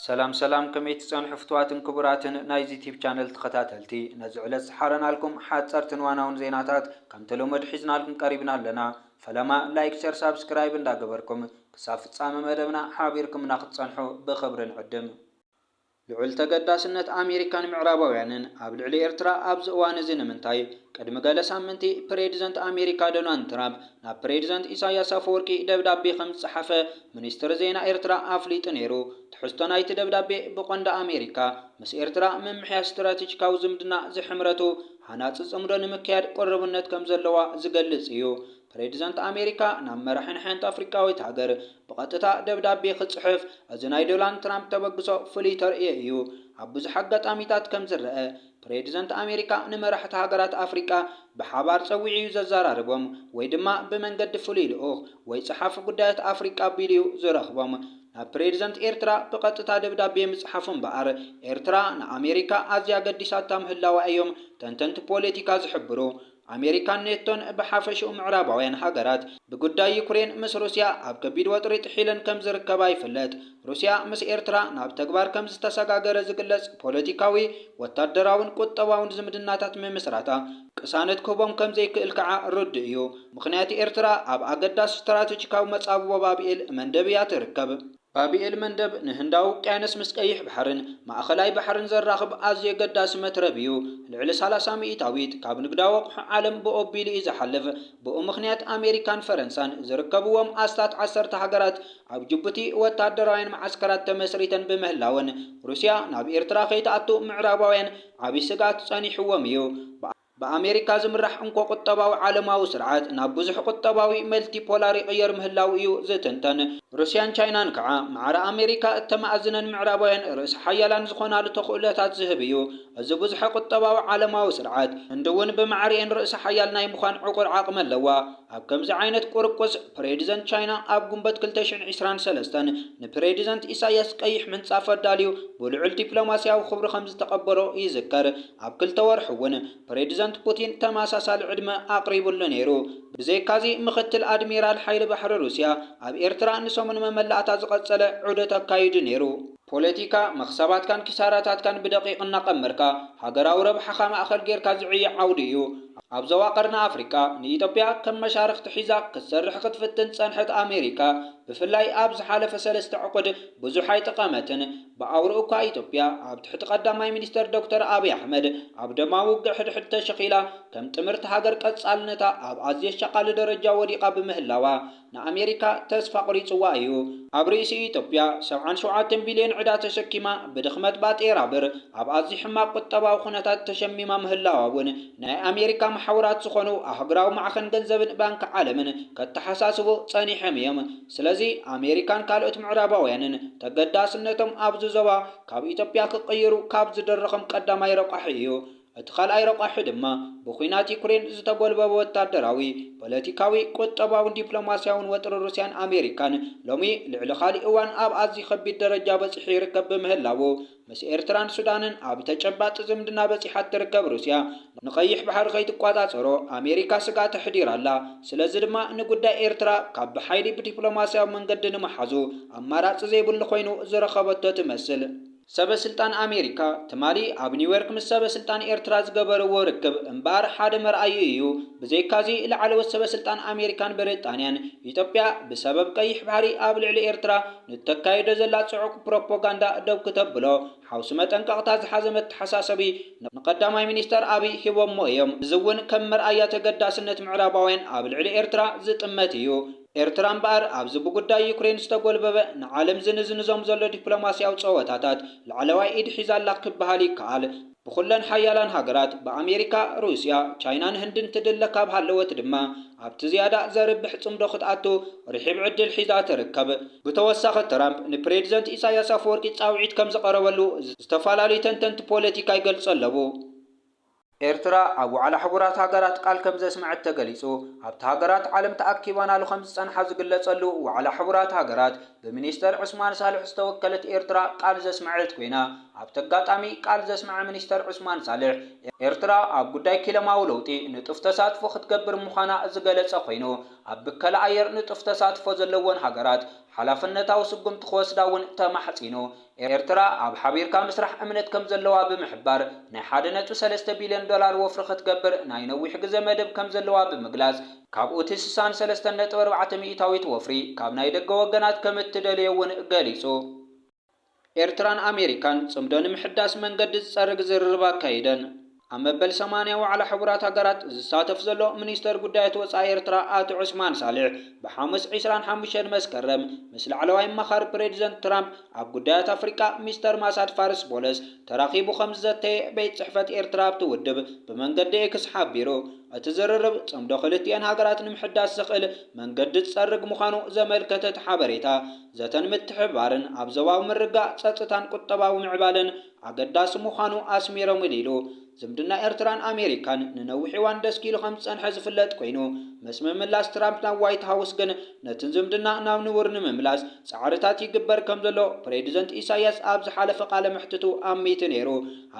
ሰላም ሰላም ከመይ ትጸንሑ ፍትዋትን ክቡራትን ናይዚ ቲብ ቻነል ተኸታተልቲ ነዚ ዕለት ዝሓረናልኩም ሓጸርትን ዋናውን ዜናታት ከም ተለመዱ ሒዝናልኩም ቀሪብና ኣለና ፈለማ ላይክ ሸር ሳብስክራይብ እንዳ ገበርኩም ክሳብ ፍጻመ መደብና ሓቢርኩምና ክትጸንሑ ብኽብሪ ንዕድም። ልዑል ተገዳስነት ኣሜሪካን ምዕራባውያንን ኣብ ልዕሊ ኤርትራ ኣብዚ እዋን እዚ ንምንታይ? ቅድሚ ገለ ሳምንቲ ፕሬድዘንት ኣሜሪካ ዶናልድ ትራፕ ናብ ፕሬዚደንት ኢሳይያስ ኣፈወርቂ ደብዳቤ ከምዝጸሓፈ ሚኒስትሪ ዜና ኤርትራ ኣፍሊጡ ነይሩ። ትሕዝቶ ናይቲ ደብዳቤ ብቐንዱ ኣሜሪካ ምስ ኤርትራ ምምሕያሽ ስትራቴጂካዊ ዝምድና ዝሐምረቱ ሃናጺ ጽምዶ ንምክያድ ቅሩብነት ከምዘለዋ ዝገልጽ እዩ። ፕሬዚደንት ኣሜሪካ ናብ መራሒን ሐንቲ ኣፍሪቃዊት ሃገር ብቐጥታ ደብዳቤ ክጽሕፍ እዚ ናይ ዶላንድ ትራምፕ ተበግሶ ፍሉይ ተርእዮ እዩ። ኣብ ብዙሕ ኣጋጣሚታት ከምዝረኣ ፕሬዚደንት ኣሜሪካ ንመራሕቲ ሃገራት ኣፍሪቃ ብሓባር ጸዊዑ እዩ ዘዘራርቦም ወይ ድማ ብመንገዲ ፍሉይ ልኡኽ ወይ ጸሓፊ ጉዳያት ኣፍሪቃ ኣቢሉ እዩ ዝረኽቦም። ናብ ፕሬዚደንት ኤርትራ ብቐጥታ ደብዳቤ ምጽሓፉ እምበኣር ኤርትራ ንኣሜሪካ ኣዝያ ገዲሳታ ምህላዋ እዮም ተንተንቲ ፖለቲካ ዝሕብሩ። ኣሜሪካን ኔቶን ብሓፈሽኡ ምዕራባውያን ሃገራት ብጉዳይ ዩክሬን ምስ ሩስያ ኣብ ከቢድ ወጥሪ ጥሒለን ከም ዝርከባ ይፍለጥ። ሩስያ ምስ ኤርትራ ናብ ተግባር ከም ዝተሰጋገረ ዝግለጽ ፖለቲካዊ፣ ወታደራውን ቁጠባውን ዝምድናታት ምምስራታ ቅሳነት ክህቦም ከም ዘይክእል ከኣ ርዱእ እዩ። ምኽንያቲ ኤርትራ ኣብ ኣገዳሲ ስትራተጂካዊ መጻብቦ ባብኤል መንደብ እያ ትርከብ። ባብ ኤል መንደብ ንህንዳዊ ውቅያኖስ ምስ ቀይሕ ባሕርን ማእከላይ ባሕርን ዘራኽብ ኣዝዩ ኣገዳሲ መትረብ እዩ። ልዕሊ ሰላሳ ሚኢታዊት ካብ ንግዳዊ ኣቑሑ ዓለም ብኡ ኣቢሉ እዩ ዝሓልፍ። ብኡ ምኽንያት ኣሜሪካን ፈረንሳን ዝርከብዎም ኣስታት ዓሰርተ ሃገራት ኣብ ጅቡቲ ወታደራውያን መዓስከራት ተመስሪተን ብምህላወን ሩስያ ናብ ኤርትራ ከይትኣቱ ምዕራባውያን ዓቢ ስግኣት ጸኒሕዎም እዩ። ብኣሜሪካ ዝምራሕ እንኮ ቁጠባዊ ዓለማዊ ስርዓት ናብ ብዙሕ ቁጠባዊ፣ መልቲፖላር፣ ይቕየር ምህላዉ እዩ ዝትንተን። ሩስያን ቻይናን ከኣ ማዕረ ኣሜሪካ እተማእዝነን ምዕራባውያን ርእሰ ሓያላን ዝኾናሉ ተኽእሎታት ዝህብ እዩ። እዚ ብዙሐ ቁጠባዊ ዓለማዊ ስርዓት፣ ህንዲ እውን ብማዕሪኤን ርእሰ ሓያል ናይ ምዃን ዕቑር ዓቕሚ ኣለዋ። ኣብ ከምዚ ዓይነት ቁርቁስ፣ ፕሬዲዘንት ቻይና ኣብ ጉንበት ክልተ ሽሕን ዕስራን ሰለስተን ንፕሬዲዘንት ኢሳይያስ ቀይሕ ምንጻፍ ኣዳልዩ ብልዑል ዲፕሎማሲያዊ ክብሪ ከምዝተቐበሎ ይዝከር። ኣብ ክልተ ወርሒ እውን ፕሬዚደንት ፑቲን ተመሳሳሊ ዕድመ ኣቕሪቡሉ ነይሩ። ብዘይካ'ዚ ምኽትል ኣድሚራል ሓይሊ ባሕሪ ሩስያ ኣብ ኤርትራ ንሰሙን መመላእታ ዝቐጸለ ዑደት ኣካይዱ ነይሩ። ፖለቲካ፣ መኽሰባትካን ኪሳራታትካን ብደቂቕ እናቐመርካ ሃገራዊ ረብሓኻ ማእከል ጌርካ ዝዕዮ ዓውዲ እዩ። ኣብ ዞባ ቀርኒ ኣፍሪቃ ንኢትዮጵያ ከም መሻርኽቲ ሒዛ ክትሰርሕ ክትፍትን ዝጸንሐት ኣሜሪካ ብፍላይ ኣብ ዝሓለፈ ሰለስተ ዕቑድ ብዙሕ ኣይጠቐመትን። ብኣውርኡ እኳ ኢትዮጵያ ኣብ ትሕቲ ቀዳማይ ሚኒስተር ዶክተር ኣብይ ኣሕመድ ኣብ ደማዊ ውግእ ሕድሕድ ተሸኺላ ከም ጥምርቲ ሃገር ቀጻልነታ ኣብ ኣዝዩ ኣሻቓሊ ደረጃ ወዲቓ ብምህላዋ ንኣሜሪካ ተስፋ ኣቑሪጽዋ እዩ። ኣብ ርእሲኡ ኢትዮጵያ ሰብዓን ሸውዓተን ቢልዮን ዕዳ ተሸኪማ ብድኽመት ባጤራ ብር ኣብ ኣዝዩ ሕማቕ ቁጠባዊ ኩነታት ተሸሚማ ምህላዋ እውን ናይ ኣሜሪካ መሓውራት ዝኾኑ ኣህጉራዊ ማዕኸን ገንዘብን ባንኪ ዓለምን ከተሓሳስቡ ጸኒሖም እዮም። ስለዚ ኣሜሪካን ካልኦት ምዕራባውያንን ተገዳስነቶም ኣብዚ ዞባ ካብ ኢትዮጵያ ክቕይሩ ካብ ዝድርኽም ቀዳማይ ረቋሒ እዩ። እቲ ካልኣይ ረቋሒ ድማ ብኩናት ዩክሬን ዝተጎልበበ ወታደራዊ፣ ፖለቲካዊ፣ ቁጠባውን ዲፕሎማስያውን ወጥሪ ሩስያን ኣሜሪካን ሎሚ ልዕሊ ካሊእ እዋን ኣብ ኣዝዩ ከቢድ ደረጃ በጺሑ ይርከብ ብምህላዉ፣ ምስ ኤርትራን ሱዳንን ኣብ ተጨባጢ ዝምድና በጺሓ እትርከብ ሩስያ፣ ንቀይሕ ባሕሪ ከይትቆጻጸሮ ኣሜሪካ ስግኣት ኣሕዲራ ኣላ። ስለዚ ድማ ንጉዳይ ኤርትራ ካብ ብሓይሊ ብዲፕሎማስያዊ መንገዲ ንምሓዙ ኣማራጺ ዘይብሉ ኮይኑ ዝረኸበቶ ትመስል። ሰበ ስልጣን ኣሜሪካ ትማሊ ኣብ ኒውዮርክ ምስ ሰበ ስልጣን ኤርትራ ዝገበርዎ ርክብ እምበኣር ሓደ መርኣዪ እዩ። ብዘይካዚ ላዕለዎት ሰበ ስልጣን ኣሜሪካን ብሪጣንያን፣ ኢትዮጵያ ብሰበብ ቀይሕ ባሕሪ ኣብ ልዕሊ ኤርትራ፣ ንእተካይዶ ዘላ ጽዑቕ ፕሮፖጋንዳ ደው ክተብሎ ሓውሲ መጠንቀቕታ ዝሓዘ መተሓሳሰቢ ንቀዳማይ ሚኒስተር ኣቢይ ሂቦሞ እዮም። እዚ እውን ከም መርኣያ ተገዳስነት ምዕራባውያን ኣብ ልዕሊ ኤርትራ ዝጥመት እዩ። ኤርትራ እምበኣር ኣብዚ ብጉዳይ ዩክሬን ዝተጎልበበ ንዓለም ዝንዝንዞም ዘሎ ዲፕሎማስያዊ ጸወታታት ላዕለዋይ ኢድ ሒዛ ኣላ ክበሃል ይከኣል። ብኹለን ሓያላን ሃገራት፣ ብኣሜሪካ፣ ሩስያ፣ ቻይናን ህንድን ትድለ ካብ ሃለወት ድማ፣ ኣብቲ ዝያዳ ዘርብሕ ጽምዶ ክትኣቱ ርሒብ ዕድል ሒዛ ትርከብ። ብተወሳኺ ትራምፕ ንፕሬዚደንት ኢሳይያስ ኣፈወርቂ ጻውዒት ከም ዝቐረበሉ ዝተፈላለዩ ተንተንቲ ፖለቲካ ይገልጹ ኣለዉ። ኤርትራ ኣብ ዋዕላ ሕቡራት ሃገራት ቃል ከም ዘስመዐት ተገሊጹ። ኣብቲ ሃገራት ዓለም ተኣኪባናሉ ከም ዝጸንሓ ዝግለጸሉ ዋዕላ ሕቡራት ሃገራት፣ ብሚኒስተር ዑስማን ሳልሕ ዝተወከለት ኤርትራ ቃል ዘስመዐት ኮይና፣ ኣብቲ ኣጋጣሚ ቃል ዘስመዐ ሚኒስተር ዑስማን ሳልሕ፣ ኤርትራ ኣብ ጉዳይ ኪለማዊ ለውጢ ንጡፍ ተሳትፎ ክትገብር ምዃና ዝገለጸ ኮይኑ፣ ኣብ ብከላ ኣየር ንጡፍ ተሳትፎ ዘለወን ሃገራት ሓላፍነታዊ ስጉምቲ ክወስዳ እውን ተማሕጺኑ። ኤርትራ ኣብ ሓቢርካ ምስራሕ እምነት ከምዘለዋ ብምሕባር፣ ናይ ሓደ ነጥቢ ሰለስተ ቢልዮን ዶላር ወፍሪ ክትገብር ናይ ነዊሕ ግዘ መደብ ከምዘለዋ ብምግላጽ፣ ካብኡ እቲ ስሳን ሰለስተን ነጥቢ ኣርባዕተ ሚኢታዊት ወፍሪ ካብ ናይ ደገ ወገናት ከምእትደልዮ እውን ገሊጹ። ኤርትራን ኣሜሪካን ጽምዶ ንምሕዳስ መንገዲ ዝጸርግ ዝርርብ ኣካይደን። ኣብ መበል ሰማንያ ዋዕላ ሕቡራት ሃገራት ዝሳተፍ ዘሎ ሚኒስተር ጉዳያት ወጻኢ ኤርትራ ኣቶ ዑስማን ሳልሕ ብሓሙስ ዕስራን ሓሙሽተን መስከረም ምስ ላዕለዋይ ኣማኻሪ ፕሬዚደንት ትራምፕ ኣብ ጉዳያት ኣፍሪቃ ሚስተር ማሳድ ፋርስ ቦለስ ተራኺቡ ከምዝዘተየ ቤት ጽሕፈት ኤርትራ ኣብቲ ውድብ ብመንገዲ ኤክስ ሓቢሩ። እቲ ዝርርብ ጽምዶ ክልቲኤን ሃገራት ንምሕዳስ ዘኽእል መንገዲ ዝጸርግ ምዃኑ ዘመልከተ እቲ ሓበሬታ ዘተን ምትሕብባርን ኣብ ዞባዊ ምርግጋእ ጸጥታን ቁጠባዊ ምዕባለን ኣገዳሲ ምዃኑ ኣስሚሮም ኢሉ። ዝምድና ኤርትራን ኣሜሪካን ንነዊሕ እዋን ደስኪሉ ከም ዝጸንሐ ዝፍለጥ ኮይኑ፣ ምስ ምምላስ ትራምፕ ናብ ዋይት ሃውስ ግን ነቲ ዝምድና ናብ ንቡር ንምምላስ ጻዕርታት ይግበር ከም ዘሎ ፕሬድዘንት ኢሳይያስ ኣብ ዝሓለፈ ቃለ መሕትቱ ኣሚቱ ነይሩ።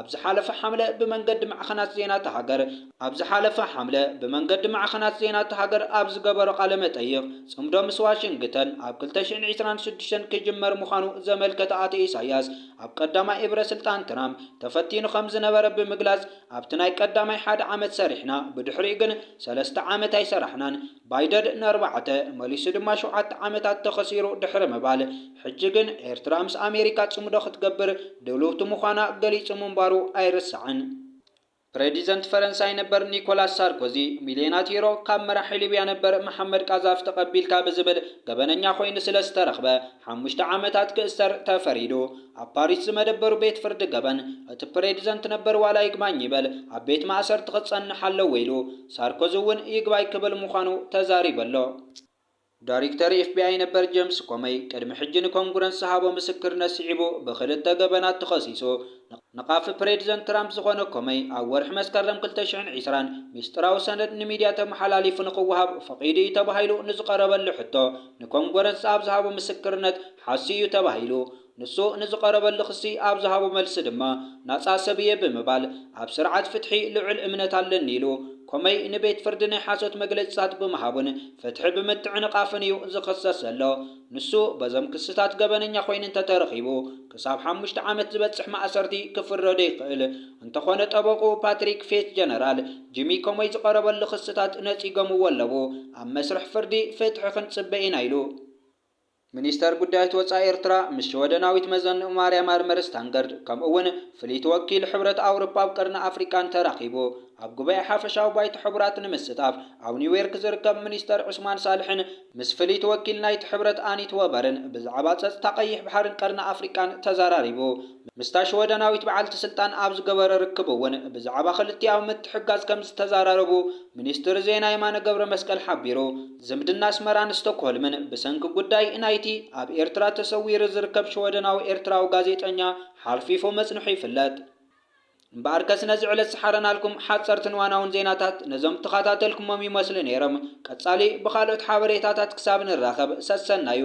ኣብ ዝሓለፈ ሓምለ ብመንገዲ ማዕኸናት ዜና'ታ ሃገር ኣብ ዝሓለፈ ሓምለ ብመንገዲ ማዕኸናት ዜና እታ ሃገር ኣብ ዝገበሮ ቃለ መጠይቕ፣ ጽምዶ ምስ ዋሽንግተን ኣብ ክልተ ሽሕን ዒስራን ሽዱሽተን ክጅመር ምዃኑ ዘመልከተ ኣቶ ኢሳይያስ፣ ኣብ ቀዳማይ እብረ ስልጣን ትራምፕ ተፈቲኑ ከምዝነበረ ብምግላጽ፣ ኣብቲ ናይ ቀዳማይ ሓደ ዓመት ሰሪሕና፣ ብድሕሪኡ ግን ሰለስተ ዓመት ኣይሰራሕናን፣ ባይደድ ንኣርባዕተ፣ መሊሱ ድማ ሸውዓተ ዓመታት ተኸሲሩ ድሕሪ ምባል፣ ሕጂ ግን ኤርትራ ምስ ኣሜሪካ ጽምዶ ክትገብር ድልውቲ ምዃና ገሊጹ ምንባሩ ኣይርሳዕን። ፕረዲዘንት ፈረንሳይ ነበር ኒኮላስ ሳርኮዚ ሚልዮናት ዩሮ ካብ መራሒ ሊብያ ነበር መሓመድ ቃዛፊ ተቐቢልካ ብዝብል ገበነኛ ኮይኑ ስለ ዝተረኽበ ሓሙሽተ ዓመታት ክእሰር ተፈሪዱ። ኣብ ፓሪስ ዝመደበሩ ቤት ፍርዲ ገበን እቲ ፕረዲዘንት ነበር ዋላ ይግባኝ ይበል ኣብ ቤት ማእሰርቲ ክጸንሕ ኣለዎ ኢሉ። ሳርኮዚ እውን ይግባይ ክብል ምዃኑ ተዛሪቡ ኣሎ። ዳሪክተር ኤፍቢኣይ ነበር ጀምስ ኮመይ ቅድሚ ሕጂ ንኮንግረስ ዝሃቦ ምስክርነት ስዒቡ ብኽልተ ገበናት ተኸሲሱ። ነቓፊ ፕሬድዘንት ትራምፕ ዝኾነ ኮመይ ኣብ ወርሒ መስከረም ክልተ ሽሕን ዕስራን ሚስጥራዊ ሰነድ ንሚድያ ተመሓላሊፉ ንኽወሃብ ፈቒዱ እዩ ተባሂሉ ንዝቐረበሉ ሕቶ ንኮንግረስ ኣብ ዝሃቦ ምስክርነት ሓስዩ እዩ ተባሂሉ ንሱ ንዝቐረበሉ ክሲ ኣብ ዝሃቦ መልሲ ድማ ናጻ ሰብ እየ ብምባል ኣብ ስርዓት ፍትሒ ልዑል እምነት ኣለኒ ኢሉ። ኮመይ ንቤት ፍርዲ ናይ ሓሶት መግለጺታት ብምሃቡን ፍትሒ ብምትዕንቓፍን እዩ ዝኽሰስ ዘሎ። ንሱ በዞም ክስታት ገበነኛ ኮይኑ እንተተረኺቡ ክሳብ ሓሙሽተ ዓመት ዝበጽሕ ማእሰርቲ ክፍረዶ ይኽእል። እንተኾነ ጠበቕኡ ፓትሪክ ፌት ጀነራል ጂሚ ኮመይ ዝቐረበሉ ክስታት ነጺጎምዎ ኣለዉ። ኣብ መስርሕ ፍርዲ ፍትሒ ክንጽበ ኢና ኢሉ። ሚኒስተር ጉዳያት ወጻኢ ኤርትራ ምስ ሽወደናዊት መዘንኡ ማርያም ኣርመር ስታንገርድ ከምኡ'ውን ፍልይቲ ወኪል ሕብረት ኣውሮጳ ኣብ ቀርኒ ኣፍሪቃን ተራኺቡ ኣብ ጉባኤ ሓፈሻዊ ባይቶ ሕቡራት ንምስታፍ ኣብ ኒውዮርክ ዝርከብ ሚኒስተር ዑስማን ሳልሕን ምስ ፍልይቲ ወኪል ናይቲ ሕብረት ኣኒት ወበርን ብዛዕባ ጸጥታ ቀይሕ ባሕርን ቀርኒ ኣፍሪቃን ተዘራሪቡ። ምስታ ሽወደናዊት በዓልቲ ስልጣን ኣብ ዝገበረ ርክብ እውን ብዛዕባ ክልቲኣዊ ምትሕግጋዝ ከምዝተዘራረቡ ሚኒስትሪ ዜና የማነ ገብረመስቀል ሓቢሩ። ዝምድና ኣስመራን ስቶክሆልምን ብሰንኪ ጉዳይ ናይቲ ኣብ ኤርትራ ተሰዊሩ ዝርከብ ሽወደናዊ ኤርትራዊ ጋዜጠኛ ሓርፊፉ ምጽንሑ ይፍለጥ። እምበኣርከስ ነዚ ዕለት ዝሓረናልኩም ሓጸርትን እዋናውን ዜናታት ነዞም እተኸታተልኩሞም ይመስሉ ነይሮም። ቀጻሊ ብኻልኦት ሓበሬታታት ክሳብ ንራኸብ ሰሰናዩ።